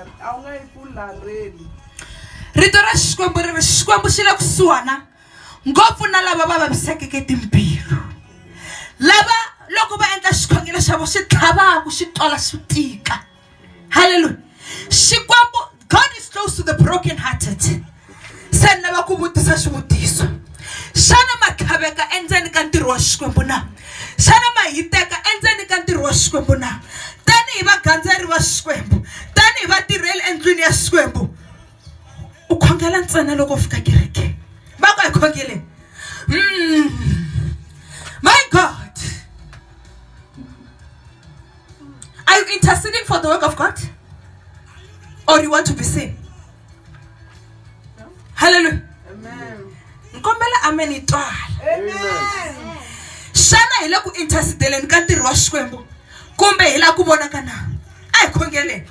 a wu nga yi ku larheli rito ra xikwembu ri ri xikwembu xi le kusuhana ngopfu na lava va vavisekeke timbilu lava loko va endla xikhongelo xa vo xi tlhavaku xi twala xi tika halleluya xikwembu god is close to the broken hearted se ni lava ku vutisa xivutiso xana ma tlhaveka endzeni ka ntirho wa xikwembu na xana ma hiteka endzeni ka ntirho wa xikwembu na tanihi vagandzeri va xikwembu tanihi vatirheli endlwini ya xikwembu u khongela ntsena loko u fika kereke va ku hi khongele mm. my god Are you interceding for the work of God? Or you want to be seen? No. Hallelujah. Amen. Nkombela amen itwala. Amen. Xana hi le ku intercedeleni ka ntirho wa Xikwembu kumbe hi la ku vonaka na? A hi khongeleni.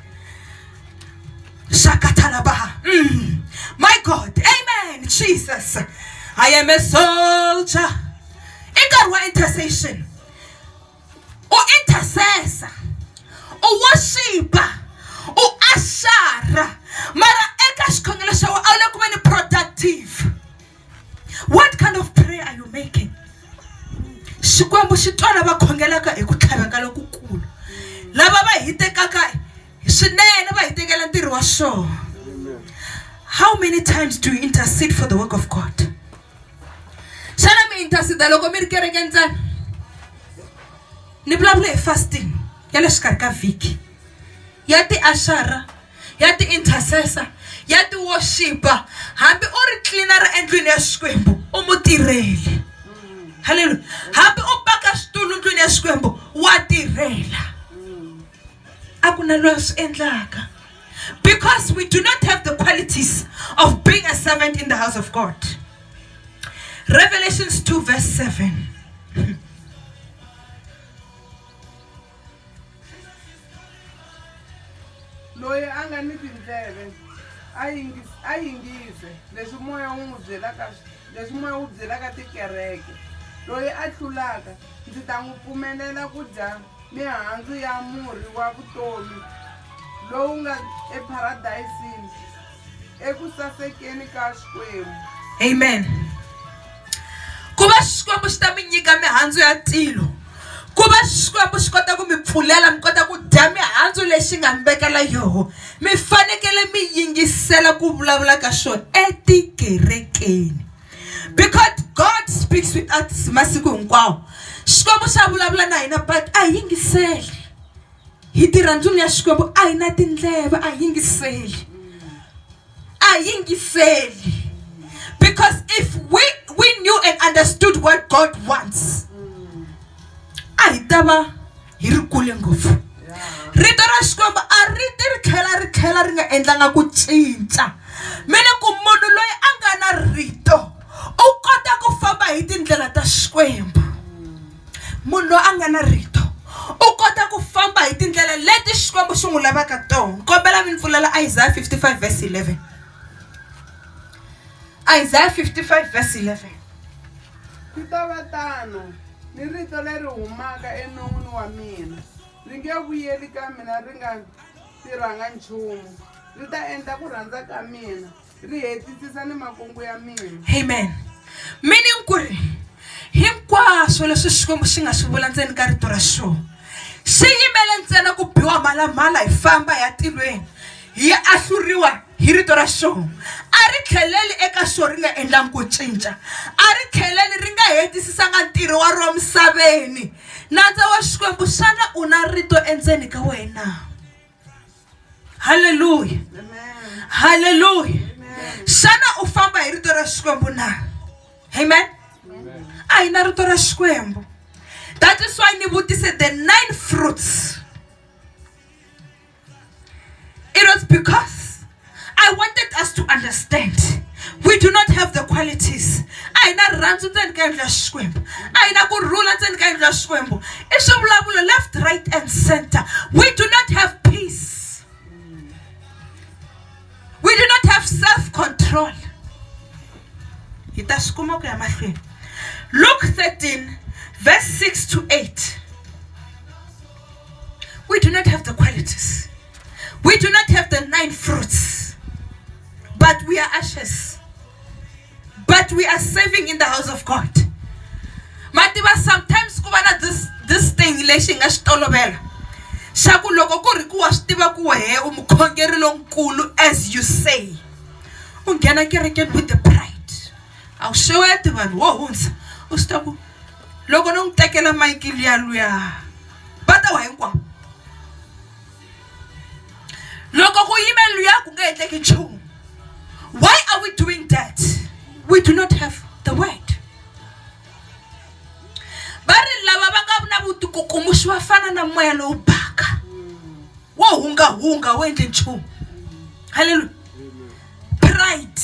Shakatalabaha. Mm. My God. Amen. Jesus. I am a soldier. I got one intercession. u intercessor, u worship-a, u usher-a mara eka xikhongelo xa wena a wu le ku veni productive. What kind of prayer are you making? Xikwembu xi twa lava khongelaka hi ku tlhaveka lokukulu, lava va hitekaka swinene va hitekela ntirho wa xona. How many times do you intercede for the work of God? xana mi intercede loko mi ri kereke ntsena ni vulavula hi fasting ya le xikarhi ka vhiki ya tiaxara ya ti-intercessor ya ti worship-a hambi u ri clean-ara endlwini ya xikwembu u mutirheli halleluya hambi u paka switulu ndlwini ya xikwembu wa tirhela a ku na loyi a swi endlaka. Because we do not have the qualities of being a servant in the house of God. Revelations 2, verse 7. loyi a nga ni tindleve a yingise leswi moya wu n'wi byelaka leswi moya wu byelaka tikereke loyi a tlulaka Ndzi ta n'wi pfumelela ku dya mihandzu ya murhi wa vutomi lowu nga epharadayisini eku sasekeni ka Xikwembu. Amen. Ku va Xikwembu xi ta mi nyika mihandzu ya tilo ku va xikwembu xi kota ku mi pfulela mi kota ku dya mihandzu lexi nga mi vekela yoho mi fanekele mi yingisela ku vulavula ka xona etikerekeni because god speaks with us masiku hinkwawo xikwembu xa vulavula na hina but a hi yingiseli hi tirha ndzuni ya xikwembu a hi na tindleve a hi yingiseli a hi yingiseli because if we, we knew and understood what god wants a hi ta va hi ri kule ngopfu rito ra xikwembu a ri ti ri tlhela ri tlhela ri nga endlanga ku cinca mi ni ku munhu loyi a nga na rito u kota ku famba hi tindlela ta xikwembu munhu loyi a nga na rito u kota ku famba hi tindlela leti xikwembu xi n'wi lavaka tona kombela mi ni pfulela isaya 55 verse 11 isaya 55 verse 11 Swi ta va tano ni rito leri humaka enon'wini wa mina, ri nge vuyeli ka mina ri nga tirhanga nchumu, ri ta endla ku rhandza ka mina, ri hetisisa ni makungu ya mina. Amen. Meaning ku ri hinkwaswo leswi Xikwembu xi nga swi vula ndzeni ka rito ra xona xi yimele ntsena ku biwa mhalamhala hi famba hi ya tilweni yi ahluriwa hi rito ra xona a ri tlheleli eka xona ri nga endlangi ku cinca a ri tlheleli ri nga hetisisanga ntirho wa ro misaveni nandza wa xikwembu xana u na rito endzeni ka wena halleluya halleluya xana u famba hi rito ra xikwembu na amen a hi na rito ra xikwembu that is why ni vutise the nine fruits It was because I wanted us to understand we do not have the qualities a hi na rirhandzu ndzeni ka yindlu ya xikwembu a hi na ku rhula ndzeni ka yindlu ya xikwembu i swivulavulo left right and center we do not have peace we do not have self control hi ta swi kuma ku ya mahlweni luke 13 verse 6 to 8 We do not have the qualities. We do not have the nine fruits. But we are ashes. But we are saving in the house of God. Mativa sometimes ku va na this this thing lexi hi nga xi tolovela xa ku loko ku ri ku wa swi tiva ku wehe u mukhongeri lonkulu as you say u nghena kerekeni with the pride a wu xeweti vanhu wo hundza u swi ta ku loko no n'wi tekela mayiki luya luya va ta wa hinkwavo loko ku yime luya ku nge endleki nchumu why are we doing that we do not have the word va ri lava va nga na vutikukumuxi va fana na moya lowu baka wo hungahunga wu endle nchumu halleluya pride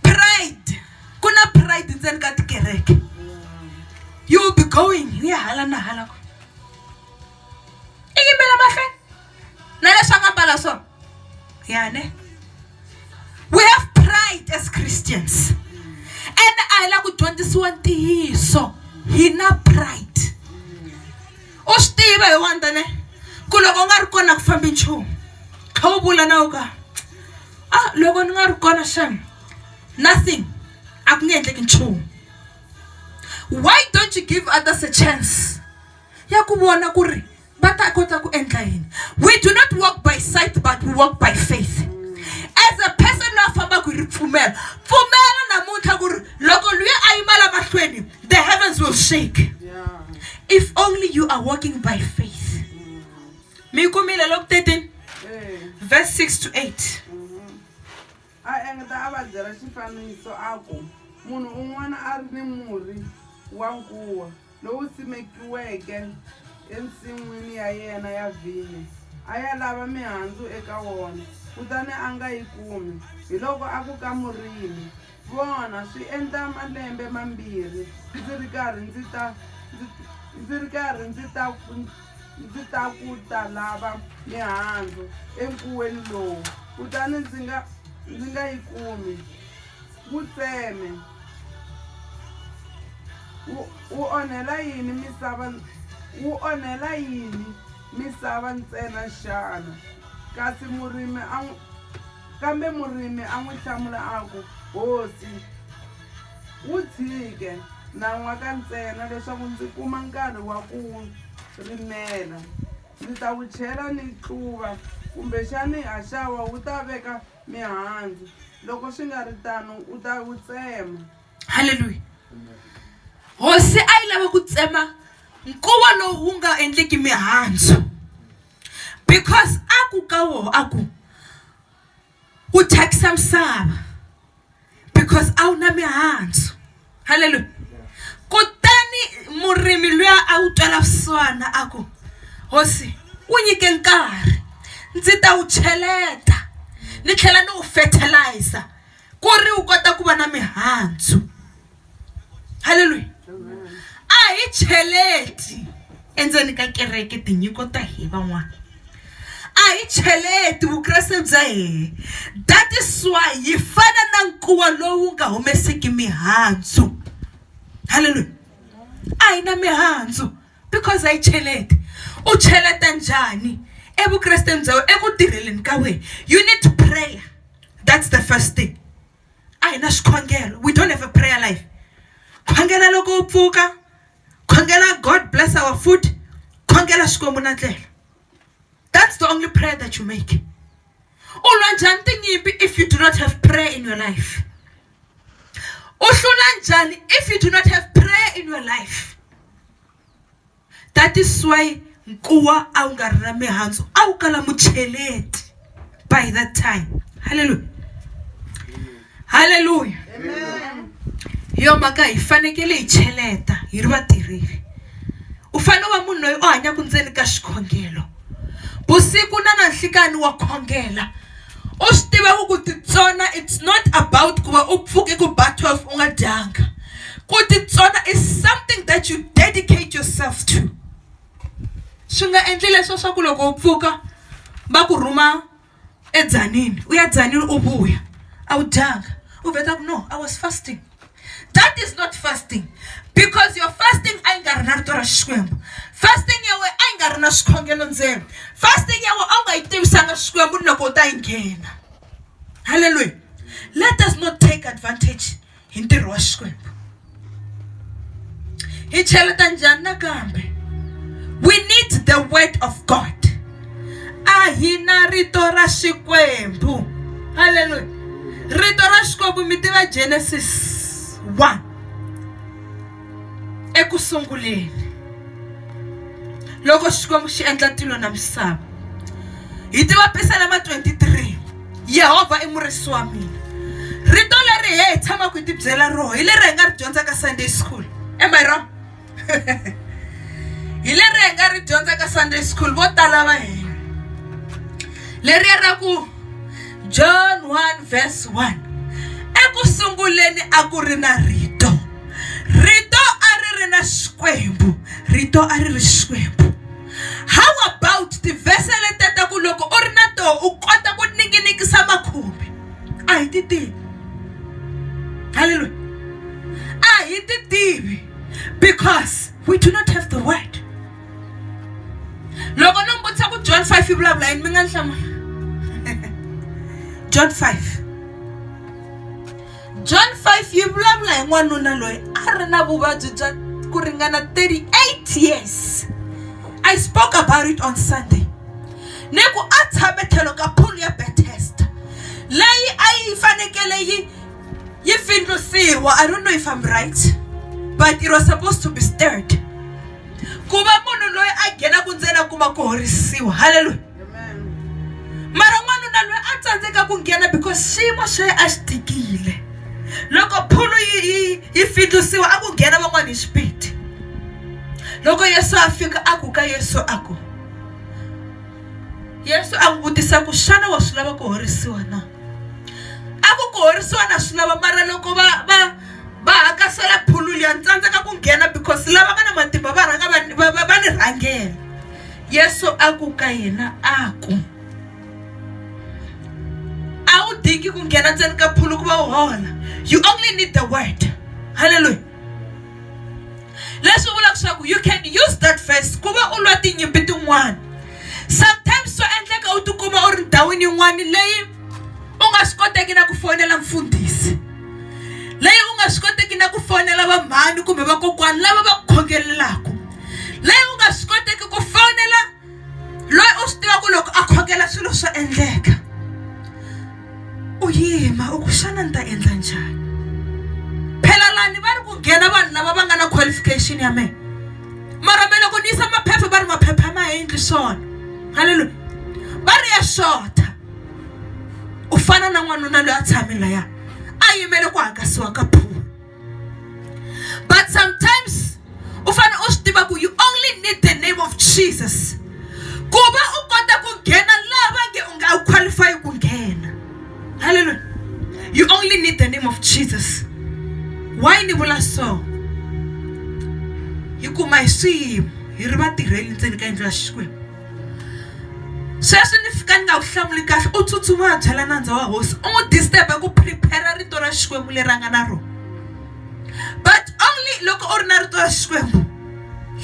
pride Ku na pride ndzeni ka tikereke. You will be going u ya hala na hala ku i yimela mahlweni na leswi a nga mbala swona ya ne we have pride as Christians and a hi la ku dyondzisiwa ntiyiso hi na pride u swi tiva hi wani tane ku loko u nga ri kona a ku fambi nchumu kha u vula na ku ka a loko ni nga ri kona xana. nothing a ku nge endleki nchumu why don't you give others a chance ya ku vona ku ri va ta kota ku endla yini we do not work by sight but we work by faith as a person la fambaka hi ripfumelo pfumela namuntlha ku ri loko luya a yima la mahlweni the heavens will shake if only you are working by faith mi yi kumile loko 13 verse 6 to 8 A engeta a va byela xifaniso a ku, Munhu un'wana a ri ni murhi wa nkuwa lowu simekiweke ensin'wini ya yena ya vhinyo. A ya lava mihandzu eka wona, kutani a nga yi kumi. Hiloko a ku ka murimi, Vona, swi endla malembe mambirhi ndzi ri karhi ndzi ta ndzi ri karhi ndzi ta ku ndzi ta ku ta lava mihandzu enkuweni lowu kutani ndzi nga ndzi nga yi kumi wu tseme wu wu onhela yini misava wu onhela yini misava ntsena xana kasi murimi a n'wi kambe murimi a n'wi hlamula a ku hosi Wu tshike nan'waka ntsena leswaku ndzi kuma nkarhi wa ku wu rimela. Ndzi ta wu chela ni tluva, kumbexani haxawa wu ta veka mihandzu, loko swi nga ri tano u ta wu tsema. Haleluya! Hosi a yi lava ku tsema nkuwa lowu wu nga endleki mihandzu because a ku ka wona a ku ku thyakisa misava because a wu na mihandzu halleluya kutani murimi luya a wu twela vusiwana a ku hosi wu nyike nkarhi ndzi ta wu cheleta ni tlhela ni wu fertilizer ku ri wu kota ku va na mihandzu halleluya a hi cheleti endzeni ka kereke tinyiko ta hi van'wana a hi cheleti vukreste bya hehe that is why yi fana na nkuwa lowu nga humeseki mihandzu halleluya a hi na mihandzu because a yi cheleti u cheleta njhani evukresteni bya wena eku tirheleni ka wena you need prayer that's the first thing a hi na swikhongelo we don't have a prayer life khongela loko u pfuka khongela god bless our food khongela xikwembu na tlela that's the only prayer that you make u lwa njhani tinyimpi if you do not have prayer in your life u hlula njhani if you do not have prayer in your life That is why nkuwa a wu nga ri na mihandzu a wu kala mucheleti by that time halleluya halleluya hi yo mhaka hi fanekele hi cheleta hi ri vatirheli u fanele u va munhu loyi u hanyaka ndzeni ka xikhongelo vusiku na nanhlikani wa khongela u swi tiva ku ku titsona it's not about ku va u pfuke ku ba 12 u nga dyanga ku titsona is something that you dedicate yourself to swi nga endli leswo swa ku loko u pfuka va ku rhuma eDzanini u ya Dzanini u vuya a wu dyanga u vheta ku no I was fasting that is not fasting because your fasting a yi nga ri na rito ra Xikwembu fasting ya wena a yi nga ri na swikhongelo ndzeni fasting ya wena a wu nga yi tivisanga Xikwembu ni loko u ta yi nghena halleluya let us not take advantage. hi ntirho wa Xikwembu. Hi cheleta njhani nakambe? We need the word of God. A hi na rito ra Xikwembu. Hallelujah. Rito ra Xikwembu mi tiva Genesis 1. eku sunguleni loko xikwembu xi endla tilo na misava hi ti vapisa lama 23 yehovha i murisi wa mina rito leri he hi tshamaka hi tibyela roho hi leri hi nga ri dyondza ka sunday school am i wrong hi leri hi nga ri dyondza ka sunday school vo tala va hina leriya ra ku John 1 verse 1 Eku sunguleni a ku ri na rito rito a ri ri na xikwembu rito a ri ri xikwembu how about tivhese leteta ku loko u ri na toho u kota ku ninginikisa makhubi a hi ti tivi halleluya a hi ti tivi because we do not have the word loko no mi vutisa ku John five yi vulavula yini mi nga ni hlamula John five John five yi vulavula hi n'wanuna loyi a ri na vuvabyi bya ku ringana thirty eight years I spoke about it on Sunday ni ku a tshame tlhelo ka pool ya Bethesda leyi a yi fanekele yi yi pfindlusiwa I don't know if I'm right but it was supposed to be stirred ku va munhu loyi a nghenaka ntsena a kuma ku horisiwa halleluya mara n'wanuna loyi a tsandzeka ku nghena because xiyimo xa ye a xi tikile loko phulu yi yi yi findlisiwa a ku nghena van'wana hi xipidi loko yesu a fika a ku ka yesu a ku yesu a n'wi vutisa ku xana wa swi lava ku horisiwa na a ku ku horisiwa na swi lava mara loko va va va hakasela phulu liya ni tsandzeka ku nghena because lava nga na matimba va rhanga va va va, va ni rhangela yesu a ku ka yena a ku a wu dingi ku nghena ndzeni ka phulu ku va u hola you only need the word halleluya leswi vulaka leswaku you can use that verse ku va u lwa tinyimpi tin'wana sometimes swa endleka u tikuma u ri ndhawini yin'wana leyi u nga swi koteki na ku fonela mfundhisi leyi u nga swi koteki na ku fonela vamhani kumbe vakokwani lava va ku khongelelaku leyi u nga swi koteki ku fonela loyi u swi tivaka loko a khongela swilo swa endleka u yima u ku xana ni ta endla njhani phela lani va ri ku nghena vanhu lava va nga na qualification ya mehe mara me loko ni yisa maphepha va ri maphepha ma ha endli swona halleluya va ri ya xota ku fana na n'wanuna loyi a tshame laya a yimele ku hakasiwa ka phulo but sometimes u fanele u swi tiva ku you only need the name of jesus ku va u kota ku nghena laha va nge u nga u qualify ku nghena halleluya you only need the name of jesus why ni vula so hi kuma hi swiyimo hi ri vatirheli ndzeni ka yindlu ya xikwembu sweswi ni fika ni nga wu hlamuli kahle u tsutsuma a byela nandza wa hosi u n'wi disturb ku prepare rito ra xikwembu leri a nga na rona but only loko u ri na rito ra xikwembu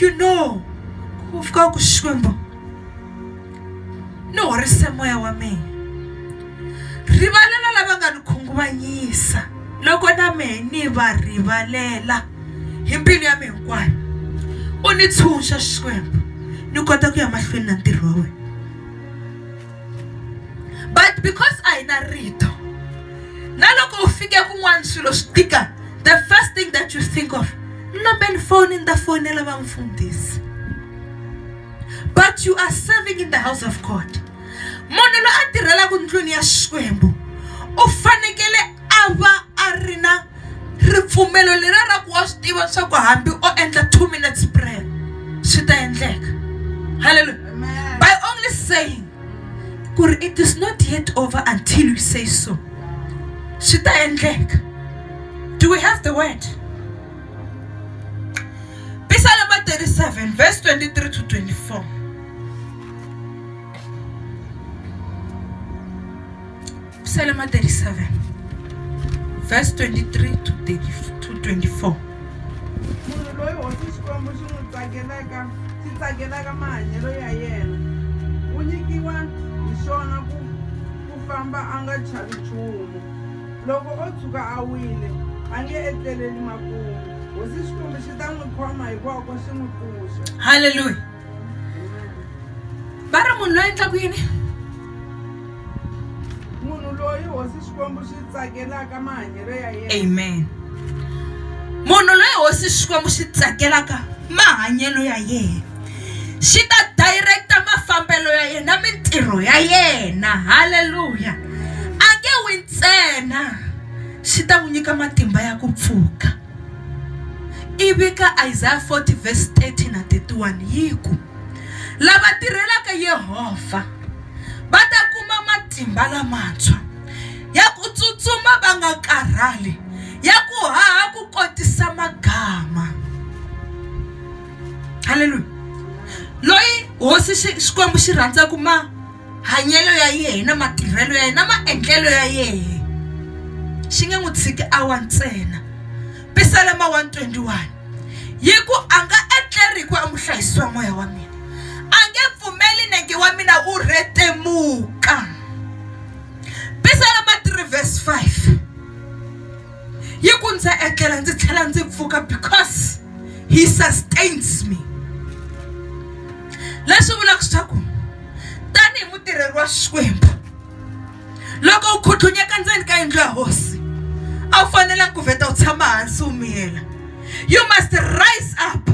you know ku fika ku xikwembu ni horise moya wa mina rivalela lava nga ni khunguvanyisa loko na mehe ni va rivalela hi mbilu ya mi hinkwayo u ni tshunxa xikwembu ni kota ku ya mahlweni na ntirho wa wena but because a hi na rito na loko u fike kun'wana swilo swi tika the first thing that you think of nambeni foni ni ta fonela va mfundhisi but you are serving in the house of god munhu loyi a tirhelaka ndlwini ya xikwembu u fanekele a va a ri na ripfumelo leriya ra ku wa swi tiva leswaku hambi o endla two minutes prayer swi ta endleka halleluya by only saying ku ri it is not yet over until you say so swi ta endleka do we have the word pisalema 37 verse 23 to 24 Thank you. Psalm 37, verse 23 to 30 to 24. munhu loyi hosi xikwembu xi n'wi tsakelaka xi tsakelaka mahanyelo ya yena u nyikiwa hi xona ku ku famba a nga chavi nchumu loko o tshuka a wile a nge etleleli makumu hosi xikwembu xi ta n'wi khoma hikwako xi n'wi pfuxa Hallelujah. va ri munhu loyi endlaku yini munhu loyi hosi xikwembu xi tsakelaka mahanyelo ya yena amen munhu loyi hosi xikwembu xi tsakelaka mahanyelo ya yena xi ta directa mafambelo ya yena mintirho ya yena halleluya a nge wi ntsena xi ta n'wi nyika matimba ya ku pfuka Ivi ka Isaya 40 verse 30 na 31 yi ku, Lava tirhelaka Yehovha va ta kuma matimba lamantshwa ya ku tsutsuma va nga karhali, ya ku haha ku kotisa magama. Haleluya! Loyi hosi Xikwembu xi rhandzaka ma hanyelo ya yehe na matirhelo ya yehe na maendlelo ya yehe xi nge n'wi tshiki awa ntsena pisalema 121 yi ku a nga etleri hi ku amuhlayisiwa moya wa mina a nge pfumeli nenge wa mina wu rhetemuka pisalema 3 vhesi 5 yi ku ndzi etlela ndzi tlhela ndzi pfuka because he sustains me leswi vulaka leswaku tanihi mutirheri wa Xikwembu loko u khutlunyeka ndzeni ka yindlu ya hosi a wu fanelanga ku vheta u tshama hansi u miyela you must rise up.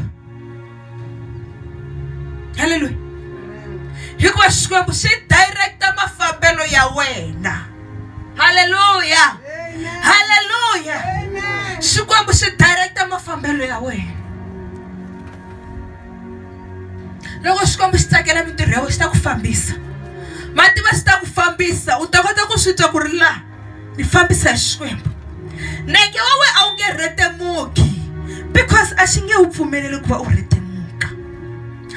halleluya hikuva xikwembu xi directa mafambelo ya wena halleluya halleluya xikwembu xi directa mafambelo ya wena loko xikwembu xi tsakela mintirho ya wena xi ta ku fambisa mativa xi ta ku fambisa u ta kota ku swi twa ku ri laha ni fambisa hi xikwembu neke wa we a wu nge rhetemuki because a xi nge wu pfumeleli ku va u rhetemuka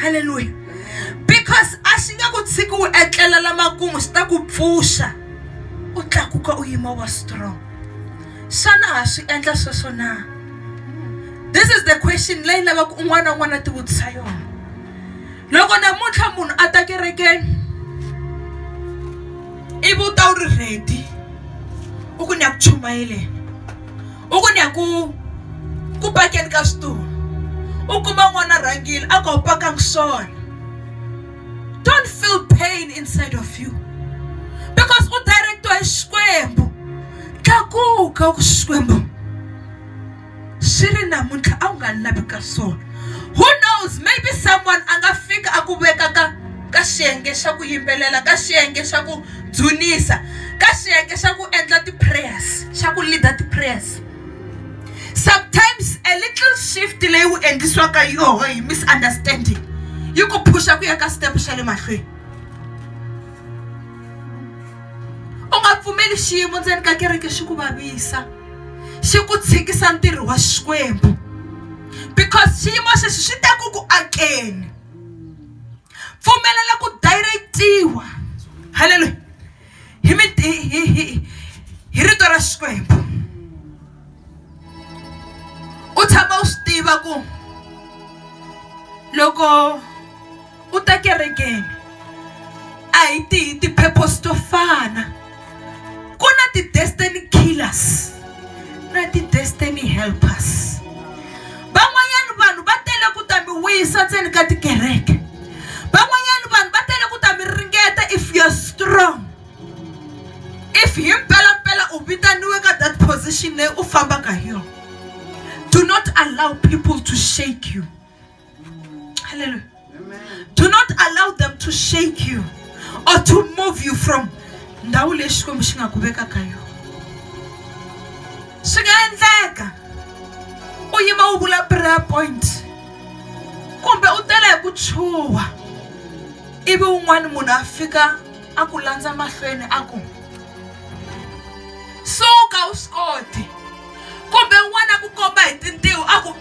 halleluya because a xi nge ku tshiki wu etlela lamakumu xi ta ku pfuxa u tlakuka u yima wa strong xana ha swi endla sweswo na this is the question leyi lavaka un'wana na un'wana a tivutisa yona loko namuntlha munhu a ta kerekeni ivi u ta wu ri ready u ku ni ya ku chumayeleni u ku ni ya ku ku pakeni ka switulu u kuma n'wana a rhangile a ku a wu pakanga swona don't feel pain inside of you because u direct-iwa hi xikwembu tlakuka u ku xikwembu swi ri namuntlha a wu nga lavi ka swona who knows maybe someone a nga fika a ku veka ka ka xiyenge xa ku yimbelela ka xiyenge xa ku dzunisa ka xiyenge xa ku endla ti-prayers xa ku leader ti-prayers sometimes a little shift leyi wu endlisiwaka yoho hi misunderstanding yi ku phusha ku ya ka step xa le mahlweni u nga pfumeli xiyimo ndzeni ka kereke xi ku vavisa xi ku tshikisa ntirho wa xikwembu because xiyimo xexi xi te ku ku akeni pfumelela ku direct-iwa halleluya hi mi hi hi hi hi rito ra xikwembu u tshama u swi tiva ku loko u ta kerekeni a hi tihi ti-purpose to fana ku na ti-destiny killers na ti-destiny helpers van'wanyana vanhu va tele ku ta mi wisa ndzeni ka tikereke van'wanyana vanhu va tele ku ta mi ringeta if you're strong if hi mpelampela u vitaniwe ka that position leyi u fambaka hi yona do not allow people to shake you Hallelujah. Amen. Do not allow them to shake you or to move you from ndhawu leyi xikwembu xi nga ku veka ka yona swi nga endleka u yima u vula prayer point kumbe u tela hi ku chuha ivi un'wana munhu a fika a ku landza mahlweni a ku suka u swi koti kumbe un'wana a ku komba hi tintiho a ku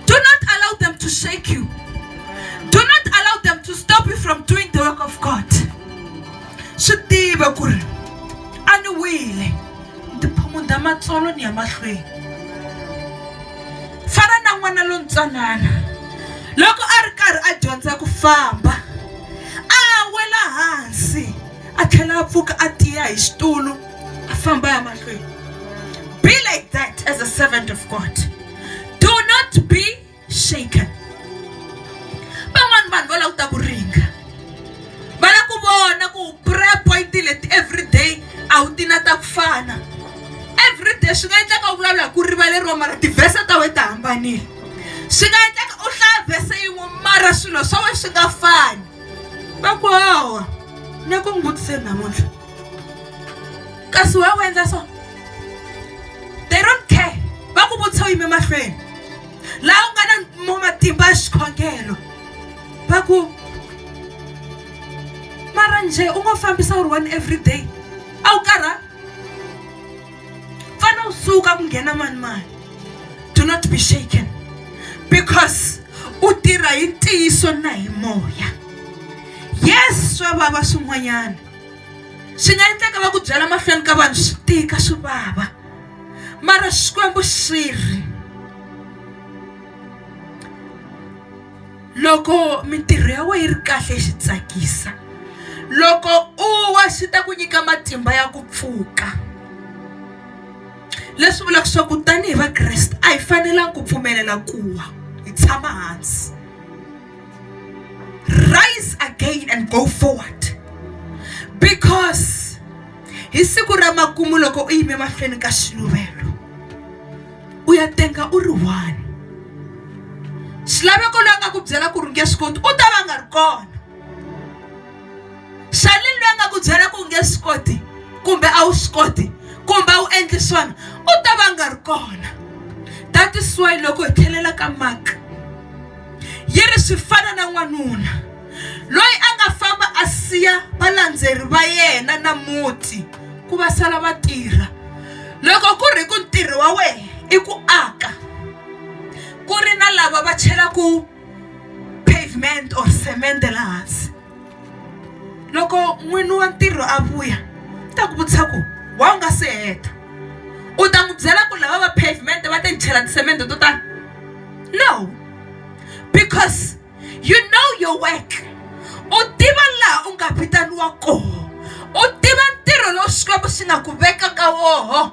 do not allow them to shake you do not allow them to stop you from doing the work of god swi tiva ku ri a ni wile ndzi phumunda matsolo ni ya mahlweni fana na n'wana lontsanana loko a ri karhi a dyondza ku famba a wela hansi a tlhela a pfuka a tiya hi xitulu a famba ya mahlweni be like that as a servant of god do not be shaken van'wani vanhu va languta ku ringa va lava ku vona ku prayer point leti every day a wu ti na ta ku fana every day swi nga endleka u vulavula hi ku rivaleriwa mara tivhese ta wena ta hambanile swi nga endleka u hlaya vhese yin'we mara swilo swa wena swi nga fani va ku hawa ni ku n'wi vutiseni namuntlha kasi why u endla so they don't care va ku vutisa u yime mahlweni laha u nga na mo matimba ya xikhongelo va ku mara njhe u ngo fambisa u ri one every day a wu karha fana u suka ku nghena mani mani do not be shaken because u tirha hi ntiyiso na hi moya yes swa vava swin'wanyana swi nga endleka va ku byela mahlweni ka vanhu swi tika swi vava mara xikwembu xi ri loko mintirho ya wena yi ri kahle xi tsakisa loko u wa xi ta ku nyika matimba ya ku pfuka leswi vulaka leswaku tanihi vakreste a hi fanelanga ku pfumelela ku wa hi tshama hansi rise again and go forward because hi siku ra makumu loko u yime mahlweni ka xiluvelo u ya tenga u ri one xilaveko loyi a nga ku byela ku ri nge swi koti u ta va nga ri kona xani loyi a nga ku byela ku nge swi koti kumbe a wu swi koti kumbe a wu endli swona u ta va nga ri kona that is why loko hi tlhelela ka maka yi ri swi fana na n'wanuna loyi a nga famba a siya valandzeri va yena na muti ku va sala va tirha loko ku ri ku ntirho wa wena i ku aka ku ri na lava va chelaku pavement or cement laha hansi loko n'wini wa ntirho a vuya u ta ku vutisa ku why u nga se heta u ta n'wi byela ku lava va pavement va ta ni chela tisemende to tani no because you know your work u tiva laha u nga vitaniwa kona u tiva ntirho lowu Xikwembu xi nga ku veka ka woho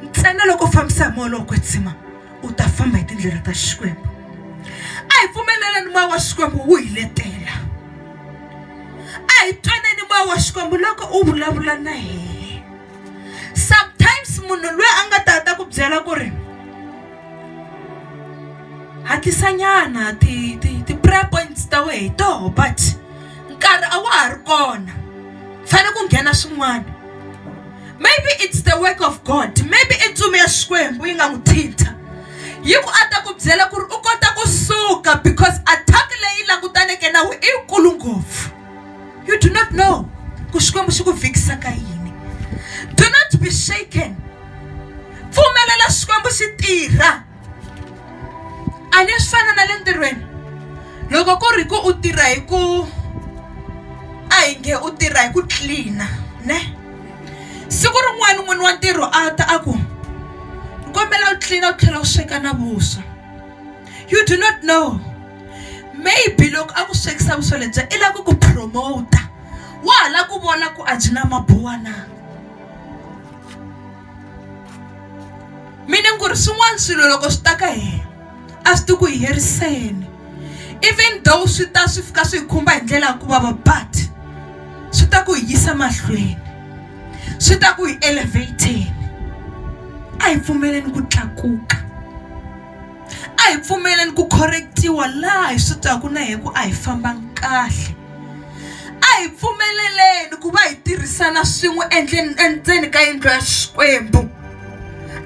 ntsena loko u fambisa hi moya lowo kwetsima. u ta famba hi tindlela ta xikwembu a hi pfumeleleni moya wa xikwembu wu hi letela a hi twaneni moya wa xikwembu loko u vulavula na hina sometimes munhu loyi a nga ta ta ku byela ku ri hatlisanyana ti ti ti prayer points ta wehe hi toho but nkarhi a wa ha ri kona fanele ku nghena swin'wana maybe it's the work of god maybe i ntsumi ya xikwembu yi nga n'wi thintha yi ku a ta ku byela ku ri u kota ku suka because attack leyi langutaneke na we i yikulu ngopfu you do not know ku xikwembu xi ku vhikisa ka yini do not be shaken pfumelela xikwembu xi tirha a ni swi fana na le ntirhweni loko ku ri ku u tirha hi ku a hi nge u tirha hi ku clean-a ne siku rin'wana n'wini wa ntirho a ta a ku ni kombela u clean-a u tlhela u sweka na vuswa you do not know maybe loko a ku swekisa vuswa lebyiya i lava ku ku promote wa ha lava ku vona ku a byi na mabuwa na. mi ni ku ri swin'wana swilo loko swi ta ka hina a swi ti ku hi heriseni even though swi ta swi fika swi hi khumba hi ndlela ya ku vava but swi ta ku hi yisa mahlweni swi ta ku hi elevator-eni a hi pfumeleni ku tlakuka. A hi pfumeleni ku khorrekitiwa laha hi swi twaka na hi ku a hi fambanga kahle. A hi pfumeleleni ku va hi tirhisana swin'we endleni endzeni ka yindlu ya Xikwembu.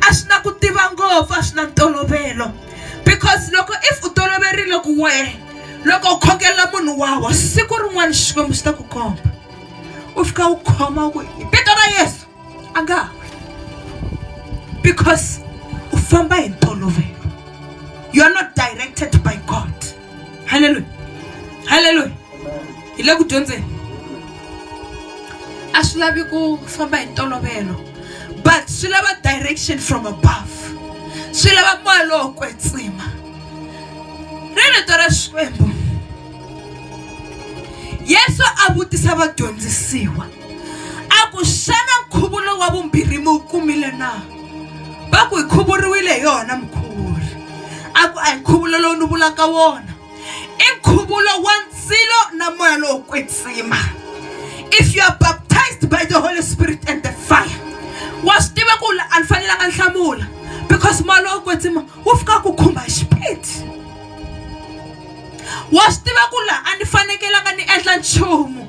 A swi na ku tiva ngopfu a swi na ntolovelo because loko if u toloverile ku wehe loko u khongela munhu wa wa siku rin'wana Xikwembu xi ta ku komba u fika u khoma u ku hi vito ra Yeso. a nga ha wi because u famba hi ntolovelo you are not directed by God haleluya haleluya hi le ku dyondzeni a swi lavi ku famba hi ntolovelo but swi lava direction from above swi lava moya lowo kwetsima ri rito ra xikwembu yesu a vutisa vadyondzisiwa a ku xana nkhuvo lowu wa vumbirhi mi wu kumile na va ku hi khuvuriwile hi yona mukhuvuri a ku a hi nkhuvulo lowu ni vulaka wona i nkhuvulo wa ndzilo na moya lowo kwetsima if you are baptized by the holy spirit and the fire wa swi tiva ku a ni fanelanga ni hlamula because moya lowo kwetsima wu fika ku khumba xipidi wa swi tiva ku laha a ni fanekelanga ni endla nchumu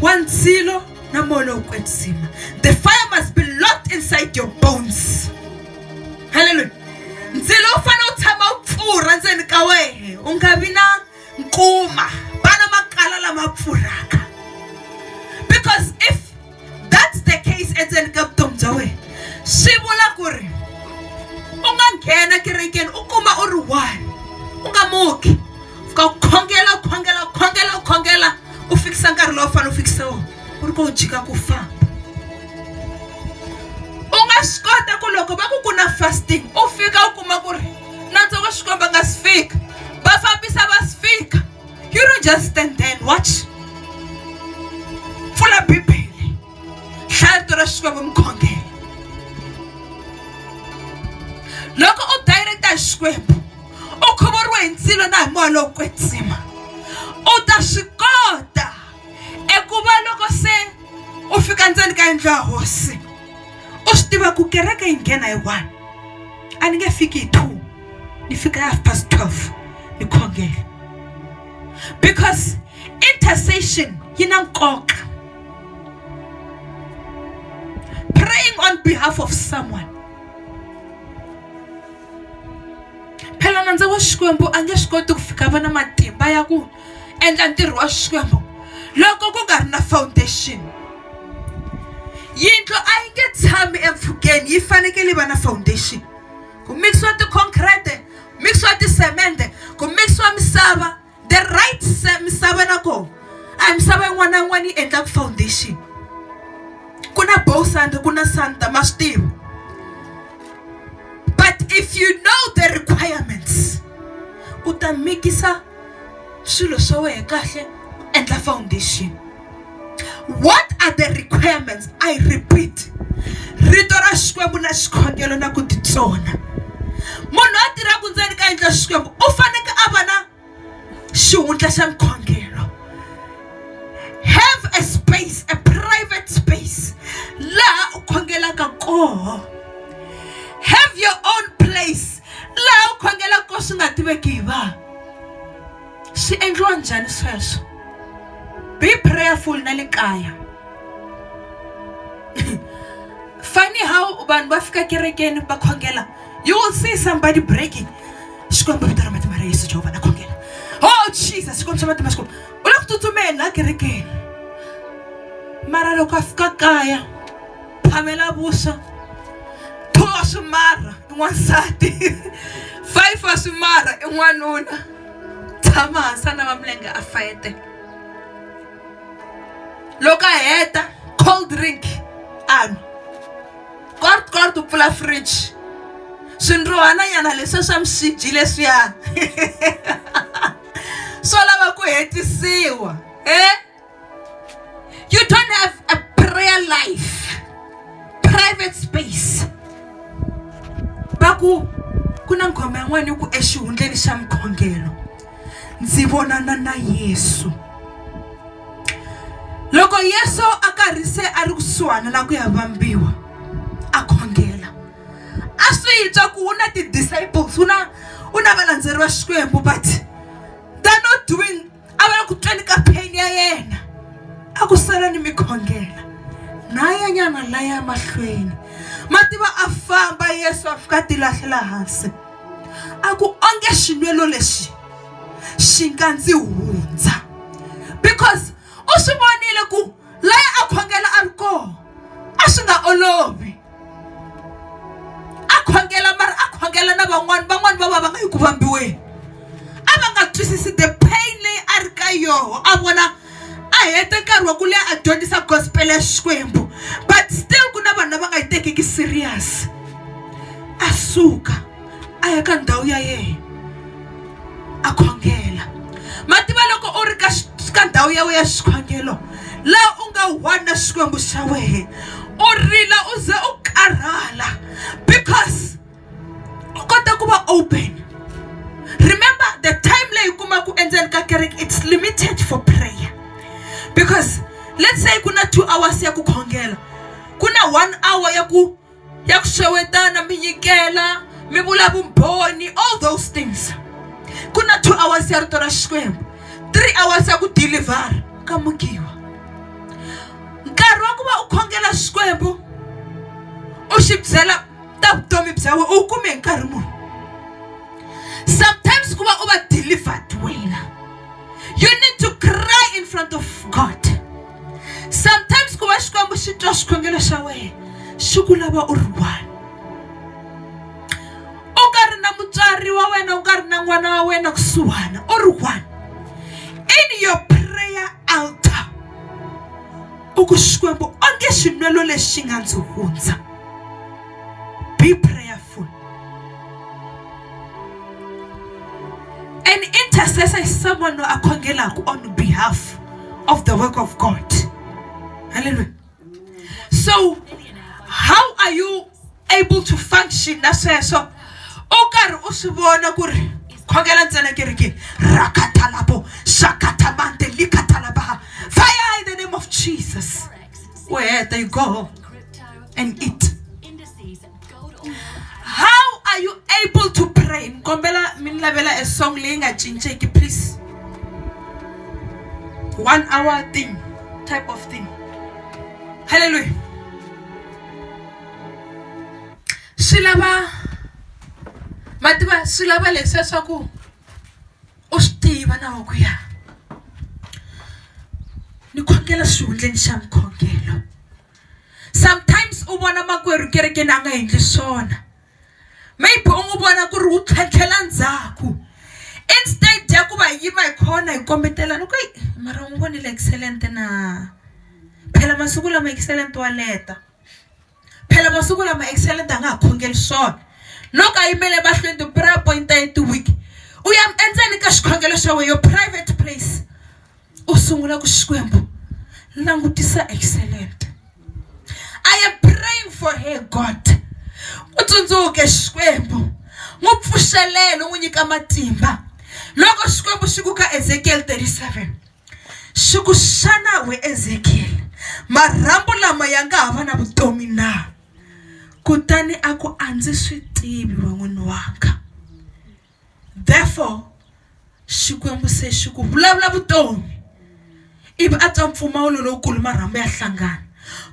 wa ndzilo na moya lowo kwetsima the fire must be locked inside your bones halleluya ndzilo wu fanele wu tshama wu pfurha ndzeni ka wehe u nga vi na nkuma vana makala lama pfurhaka because if that's the case endzeni ka vutomi bya wena swi vula ku ri u nga nghena kerekeni u kuma u ri one u nga muki fika u khongela u khongela u khongela u khongela u fikisa nkarhi lowu fanele u fikisa wona u ri ka u jika ku famba u nga swi kota ku loko va ku ku na fasting u fika u kuma ku ri nantswo wa xikwembu nga si fika va fambisa va si fika you don't just stand there and watch pfula bibele hlaya rito ra xikwembu mukhongelo loko u direct-a hi xikwembu u khuvuriwe hi ndzilo na hi moya lowo kwetsima u ta swi kota eku va loko se u fika ndzeni ka yindlu ya hosi u swi tiva ku kereke yi nghena hi one a ni nge fiki hi two ni fika half past twelve ni khongela because intercession yi na nkoka praying on behalf of someone phela nandza wa xikwembu a nge swi koti ku fika va na matimba ya ku endla ntirho wa xikwembu loko ku nga ri na foundation yindlu a yi nge tshami empfhukeni yi fanekele yi va na foundation ku mikisiwa ti-concrete mikisiwa tisemende ku mikisiwa misava the right misava na koho a hi misava yin'wana na yin'wana yi endlaka foundation ku na bow sand ku na sand ma swi tiva but if you know the requirements u ta mikisa swilo swa wena kahle u endla foundation. what are the requirements i repeat rito ra xikwembu na xikhongelo na ku titsona munhu a tirhaku ndzeni ka yindlu ya xikwembu u faneke a va na xihundla xa nkhongelo have a space a private space laha u khongelaka koho have your own place laha u khongelaka ko swi nga tiveki hi vanhu swi endliwa njhani sweswo be prayerful na le kaya funny how vanhu va fika kerekeni va khongela you will see somebody breaking xikwembu vito ra matimba ra yesu jehovha na khongela oh jesus xikwembu xa matimba xikwembu u le ku tsutsumeni la kerekeni mara loko a fika kaya phamela vuswa two wa swimarha i n'wansati five wa swimarha i n'wanuna tshama hansi a nava milenge a fayete loko a heta cold drink a nwa kort kort u pfula fridge swindrohananyana leswiya swa mixiji leswiya swo lava ku hetisiwa e You don't have a prayer life, private space. Va ku ku na nghoma yin'wana yi ku exihundleni xa mukhongelo ndzi vonana na Yesu. Loko Yesu a karhi se a ri kusuhana na ku ya vambiwa a khongela a swi twa ku u na ti-disciples u na u na valandzeri va Xikwembu but they're not doing a va ku tweni ka pain ya yena a ku sala ni mikhongela nayanyana laya mahlweni mativa a famba yesu a fika ti lahlela hansi a ku onge xinwelo lexi xi nga ndzi hundza because u swi vonile ku laha a khongela a ri kona a swi nga olovi a khongela mara a khongela na van'wani van'wani va va va nga yi ku vambiweni a va nga twisisi the pain leyi a ri ka yoho a vona a hete nkarhi wa ku leha a dyondzisa gospel ya xikwembu but still ku na vanhu lava nga yi tekiki serious a suka a ya ka ndhawu ya yena a khongela ma tiva loko u ri ka ka ndhawu ya wena ya xikhongelo laha u nga one na xikwembu xa wena u rila u ze u karhala because u kota ku va open remember the time leyi u kumaka endzeni ka kereke it's limited for prayer because let's say ku na two hours ya ku khongela ku na one hour ya ku. ya ku xewetana mi nyikela mi vula vumbhoni all those things ku na two hours ya rito ra xikwembu three hours ya ku deliver ka mukiwa nkarhi wa ku va u khongela xikwembu u xi byela ta vutomi bya wena u kume hi nkarhi muni sometimes ku va u va delivered wena you need to cry in front of god sometimes ku va xikwembu xi twa xikhongelo xa wena xi ku lava u ri one u nga ri na mutswari wa wena u nga ri na n'wana wa wena kusuhana u ri one in your prayer altar u ku xikwembu onge xinwelo lexi nga ndzi hundza Be prayerful. An intercessor is someone who akhongelaka on behalf of the work of God. Hallelujah. So, how are you able to function na sweswo u karhi u swi vona ku ri khongela ntsena kerekeni rakatalapo shakatamante likatalabaha fire in the name of jesus u heta you go home and eat. How are you able to pray? Kombela minlavela a song leyi nga cinceki please. One hour thing, type of thing. Hallelujah. Swi lava mativa swi lava leswi leswaku u swi tiva na wa ku ya ni khongela xihundleni xa mukhongelo sometimes u vona makwerhu kerekeni a nga endli swona maybe u n'wi vona ku ri wu tlhantlhela ndzhaku instead ya ku va yima hi khona hi kombetelana ku yi mara u n'wi vonile excellent na phela masiku lama excellent wa leta phela masiku lama excellent a nga ha khongeli swona loko a yimele emahlweni ti-prayer point ya tiwiki u ya endzeni ka xikhongelo xa wena yo private place u sungula ku Xikwembu langutisa excellent I am praying for her God u tsundzuke Xikwembu n'wi pfuxelela u n'wi nyika matimba loko Xikwembu xi ku ka Ezekiel 37 xi ku xana we Ezekiel marhambu lama ya nga ha va na vutomi na kutani a ku a ndzi swi tivi we n'wini wanga therefore Xikwembu se xi ku vulavula vutomi ivi a twa mpfumawulo lowukulu marhambu ya hlangana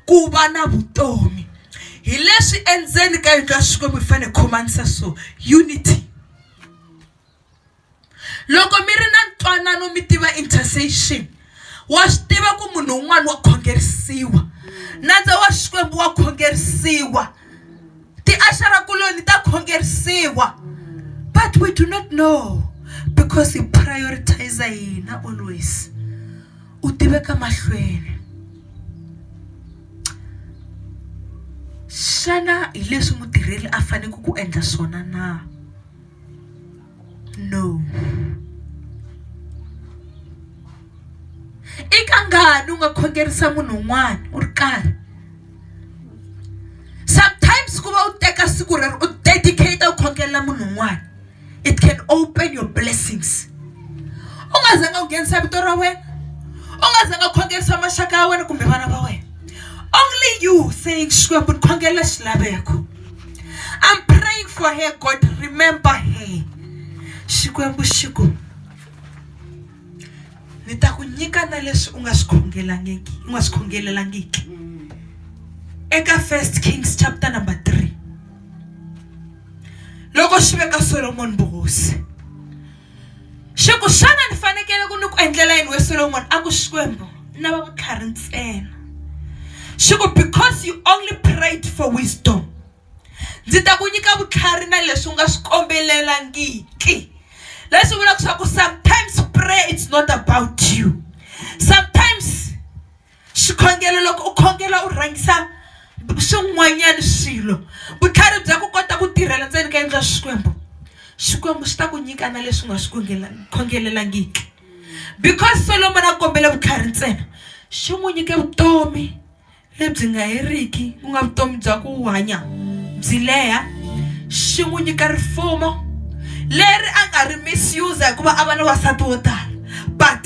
ku va na vutomi hi leswi endzeni ka yindlu ya Xikwembu hi fanele hi khomanisa so unity loko mi ri na ntwanano mi tiva intercession wa swi tiva ku munhu un'wana wa khongerisiwa nandza wa xikwembu wa khongerisiwa tiaxarakuloni ta khongerisiwa but we do not know because hi prioritize hina always u tiveka mahlweni xana hi leswi mutirheli a faneleke ku endla swona na No. I ka ngani u nga khongerisa munhu un'wana u ri karhi sometimes ku va u teka siku rero u dedicate u khongelela munhu un'wana it can open your blessings u nga zanga u nghenisa vito ra wena u nga zanga u khongerisa maxaka ya wena kumbe vana va wena only you saying Xikwembu ni khongelela xilaveko. I'm praying for her, God. Remember her. Xikwembu xi ku ni ta ku nyika na leswi u nga swi khongelangiki u nga swi khongelelangiki eka first kings chapter number 3 loko xi veka solomoni vuhosi Xi ku, Xana ni fanekele ku ni ku endlela yini we Solomoni? A ku, Xikwembu, ni lava vutlhari ntsena. Xi ku, Because you only prayed for wisdom. Ndzi ta ku nyika vutlhari na leswi u nga swi kombelelangiki. Leswi vulaka leswaku sometimes prayer it's not about you. Sometimes. Xikhongelo, Loko u khongela u rhangisa swin'wanyana swilo vutlhari bya ku kota ku tirhela ndzeni ka yindlu ya Xikwembu Xikwembu xi ta ku nyika na leswi nga swi khongelelangiki because Solomon a kombele vutlhari ntsena xi n'wi nyike vutomi lebyi nga heriki ku nga vutomi bya ku hanya byi leha xi n'wi nyika rifumo leri a nga ri misuse hikuva a va ni wasati wo tala but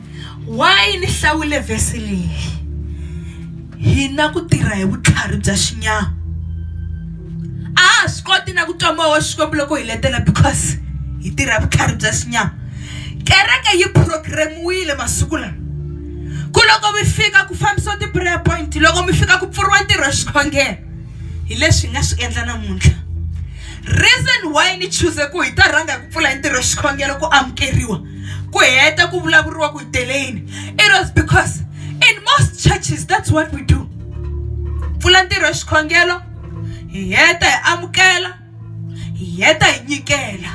Why ni hlawule verse leyi? Hi na ku tirha hi vutlhari bya xinyama. A ha swi koti na ku twa moya wa Xikwembu loko hi letela because hi tirha vutlhari bya xinyama. Kereke yi programiwile masiku lawa. Ku loko mi fika ku fambisiwa ti-prayer point loko mi fika ku pfuriwa ntirho wa xikhongelo hi leswi hi nga swi endla namuntlha. Reason why ni chuze ku hi ta rhanga hi ku pfula hi ntirho wa xikhongelo ku amukeriwa. ku heta ku vulavuriwa ku hi teleyini it was because in most churches that's what we do pfula ntirho wa xikhongelo hi heta hi amukela hi heta hi nyikela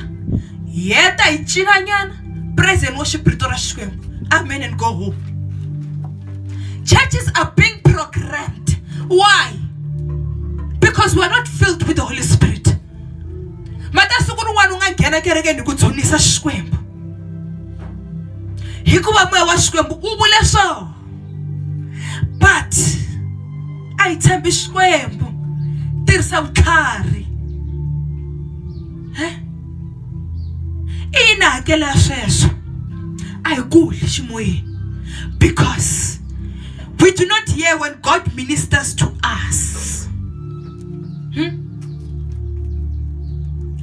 hi heta hi cinanyana praise and worship rito ra xikwembu amen and go home churches are being programmed why because we're not filled with the holy spirit mata siku rin'wana u nga nghena kerekeni hi ku dzunisa xikwembu hikuva moya wa xikwembu u vule so but a hi tshembi xikwembu tirhisa vutlhari i yini hakelo ya sweswo a hi kuli ximoyeni because we do not hear when god ministers to us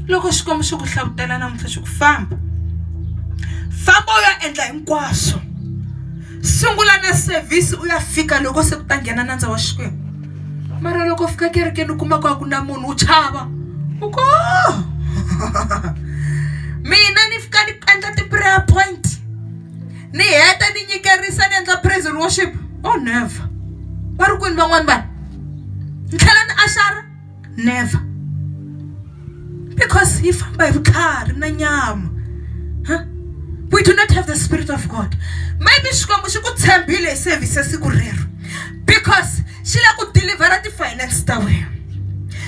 loko xikwembu xi ku hlavutela namuntlha xi ku famba famba u ya endla hinkwaswo sungula na sevhisi u ya fika loko se ku ta nghena nandza wa xikwembu mara loko u fika kerekeni u kuma ku a ku na munhu u chava u ko oh! mina ni fika ni endla ti-prayer point ni heta ni nyikerisa ni endla praise and worship oh never va ri kwini van'wani vanhu ni tlhela ni axara never because yi famba hi vutlhari na nyama huh? we do not have the spirit of god maybe xikwembu xi ku tshembile hi service ya siku rero because xi lava ku dilivhara ti-finance ta wena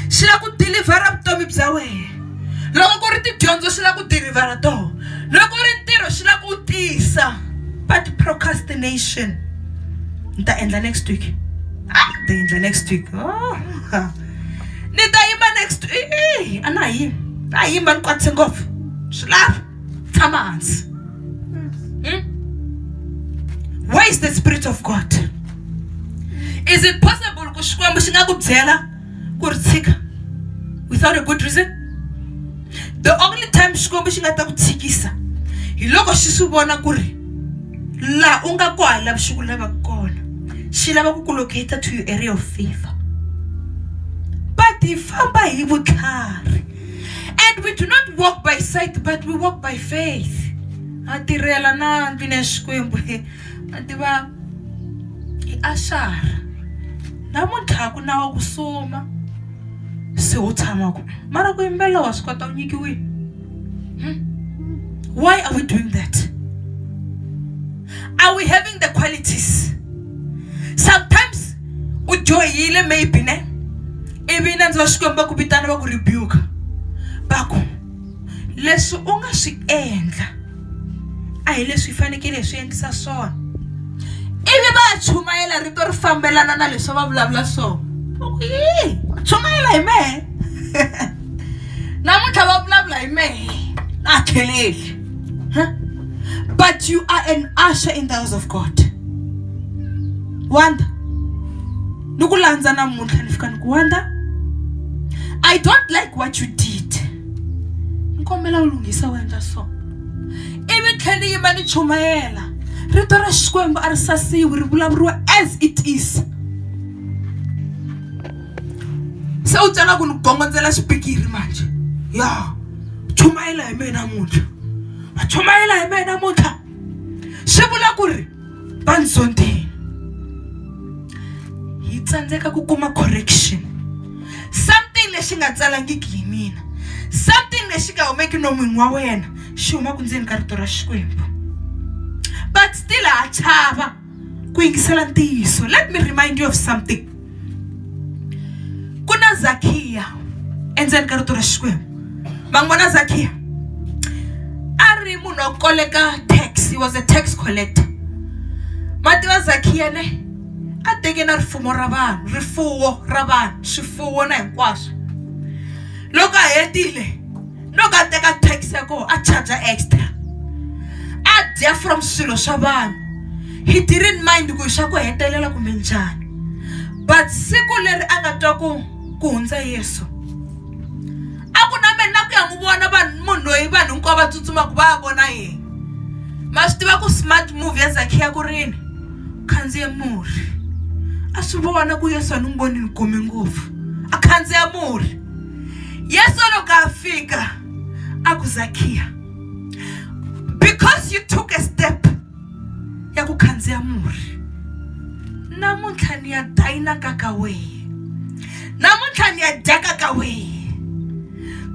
xi lava ku dilivhara vutomi bya wena loko ku ri tidyondzo xi lava ku dilivhara toho loko ku ri ntirho xi lava ku tiyisa but procrastination ni ta endla next week a ni ta endla next week oh, ni ta yima next week a na ha yimi a yima ni kwatise ngopfu swi lava tshama hansi hmm? where is the spirit of god is it possible ku xikwembu xi nga ku byela ku ri tshika without a good reason the only time xikwembu xi nga ta ku tshikisa hi loko xi swi vona ku ri laha u nga kwaha lavi xi ku lavaka kona xi lava ku ku locata to your area of favor but hi famba hi vutlhari and we do not walk by sight but we walk by faith a tirhela na ndlwini ya xikwembu a tiva i axara namuntlha ku na wa ku suma se u tshama ku mara ku yimbelela wa swi kota u nyikiwile hmm? why are we doing that are we having the qualities sometimes u dyohile maybe ne ivi nandzi va xikwembu va ku vitana va ku rebuka va ku leswi u nga swi endla a hi leswi hi fanekele hi swi endlisa swona ivi va chumayela rito ri fambelana na leswi va vulavula swona yi chumayela hi mehe namuntlha va vulavula hi mehe na kheleli Huh? But you are an usher in the house of God. Wanda. Ni ku landza namuntlha ni fika ni ku Wanda. I don't like what you did. Ni kombela u lunghisa u endla so. Ivi tlheli yima ni chumayela. Rito ra Xikwembu a ri sasiwi ri vulavuriwa as it is. Se u tsala ku ni gongondzela xipikiri manje. Yeah. chumayela hi mehe namuntlha va chumayela hi mehe namuntlha swi vula ku ri va ndzi zondhile hi tsandzeka ku kuma correction something lexi nga tsalangiki hi mina something lexi nga humeki nomunhu wa wena xi humaka ndzeni ka rito ra xikwembu but still ha chava ku yingisela ntiyiso let me remind you of something ku na zakhiya endzeni ka rito ra xikwembu va n'wi vona zakhiya a ri munhu wa ku koleka tax he was a tax collector ma tiva zakhiya ne a teke na rifumo ra vanhu rifuwo ra vanhu swifuwo na hinkwaswo loko a hetile loko a teka tax ya koho a charge extra a dya from swilo swa vanhu he didn't mind ku swa ku hetelela kumbe njhani but siku leri a nga twa ku ku hundza yesu a ku na mina ku ya n'wi vona vanhu munhu loyi vanhu hinkwavo va tsutsumaka va ya vona yena ma swi tiva ku smart move ya zakhiya ku rini khandziye murhi a swi vona ku yesu a ni n'wi voni ni gome ngopfu a khandziya murhi yesu loko a fika a ku zakhiya because you took a step ya ku khandziya murhi namuntlha ni ya dayinaka ka wehe namuntlha ni ya dyaka ka wehe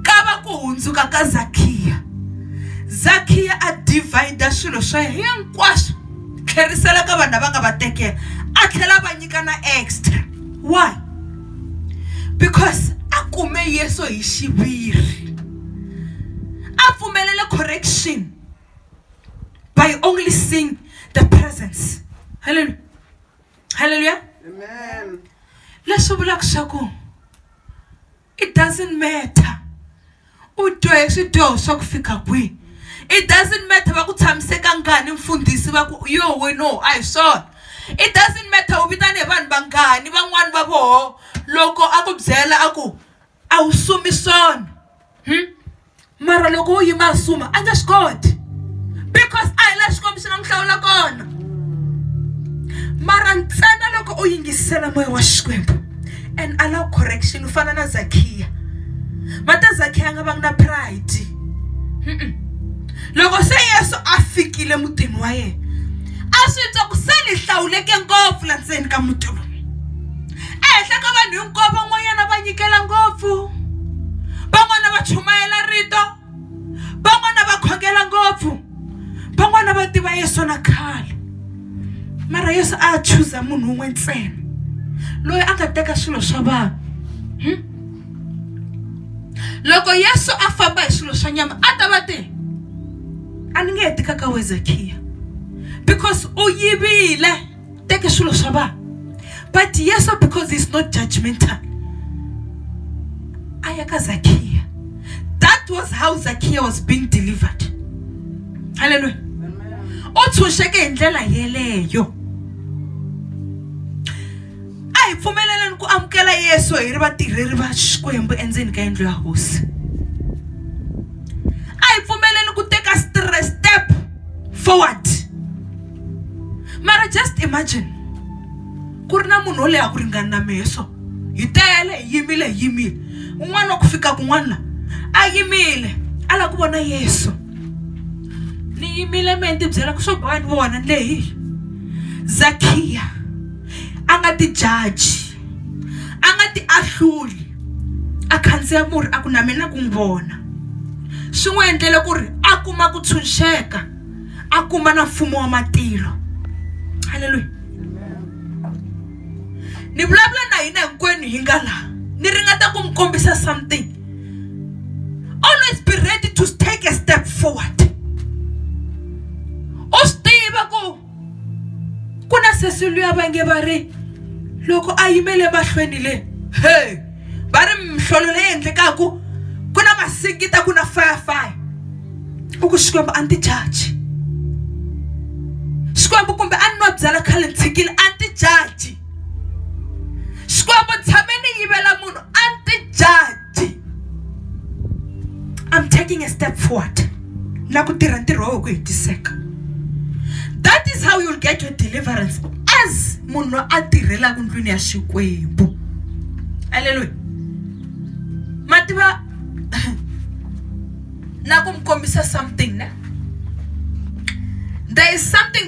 ka va ku hundzuka ka zakhiya zakhiya a divhayida swilo swa yena hinkwaswo tlherisela ka vanhu lava nga va tekela a tlhela va nyika na extra why because a kume Yesu hi xiviri a pfumelele correction by only seeing the presence hallelujah hallelujah amen leswi vulaka swa ku it doesn't matter U twe swidyoho swa ku fika kwihi? It doesn't matter va ku tshamiseka ka ngani mfundhisi va ku yo weno a hi swona it doesn't matter u vitane hi vanhu vangani van'wani va voho loko a ku byela a ku a wu sumi swona hmm? mara loko wo yima a suma a nge swi koti because a hi la xikwembu xi nga n'wi hlawula kona mara ntsena loko u yingisela moya wa xikwembu and allow correction u fana na zakhiya mata zakhiya a nga vangi na pride loko se yesu a fikile mutini wa yena a swi twa ku se ni hlawuleke ngopfu la ndzeni ka muti lowu ehenhla ka vanhu hinkwavo van'wanyana va nyikela ngopfu van'wana va chumayela rito van'wana va khongela ngopfu van'wana va tiva yesu na khale mara yesu a chuza munhu un'we ntsena loyi a nga teka swilo swa vanhu hmm? loko yesu a famba hi swilo swa nyama a ta va te a ni nge he tikaka wezakhiya because u yivile teke swilo swa vanhu but yesu because he's not judgmental a ya ka zakiya that was how zakiya was being delivered halleluya u tshunxeke hi ndlela yeleyo a hi pfumeleleni ku amukela yesu hi ri vatirheri va xikwembu endzeni ka yindlu ya hosi a hi pfumeleni ku teka step forward mara just imagine ku ri na munhu wo leyi a ku ringani na mehe so hi tele hi yimile hi yimile un'wana wa ku fika kun'wana la a yimile a lava ku vona yesu ni yimile mehe ni tibyela ku swo boha ni vona ni lehi zakhiya a nga ti jaji a nga ti ahluli a khandziya murhi a ku na mina ku n'wi vona swi n'wi endlele ku ri a kuma ku tshunxeka a kuma na mfumo wa matilo halleluya ni vulavula na hina hinkwenu hi nga laha ni ringeta ku mi kombisa something always be ready to take a step forward u swi tiva ku ku na sesi luya va nge va ri loko a yimele mahlweni le he va ri mihlolo leyi endlekaka ku na masingita ku na firefire u ku xikwembu a ni ti jaji xikwembu kumbe a ni nwa byala khale ni tshikile a ni ti jaji xikwembu tshame ni yivela munhu a ni ti jaji i'm taking a step forward na ku tirha ntirho wa wena ku hetiseka that is how you'll get your deliverance as munhu loyi a tirhelaka ndlwini ya xikwembu aleluya ma tiva na ku mi kombisa something ne there is something that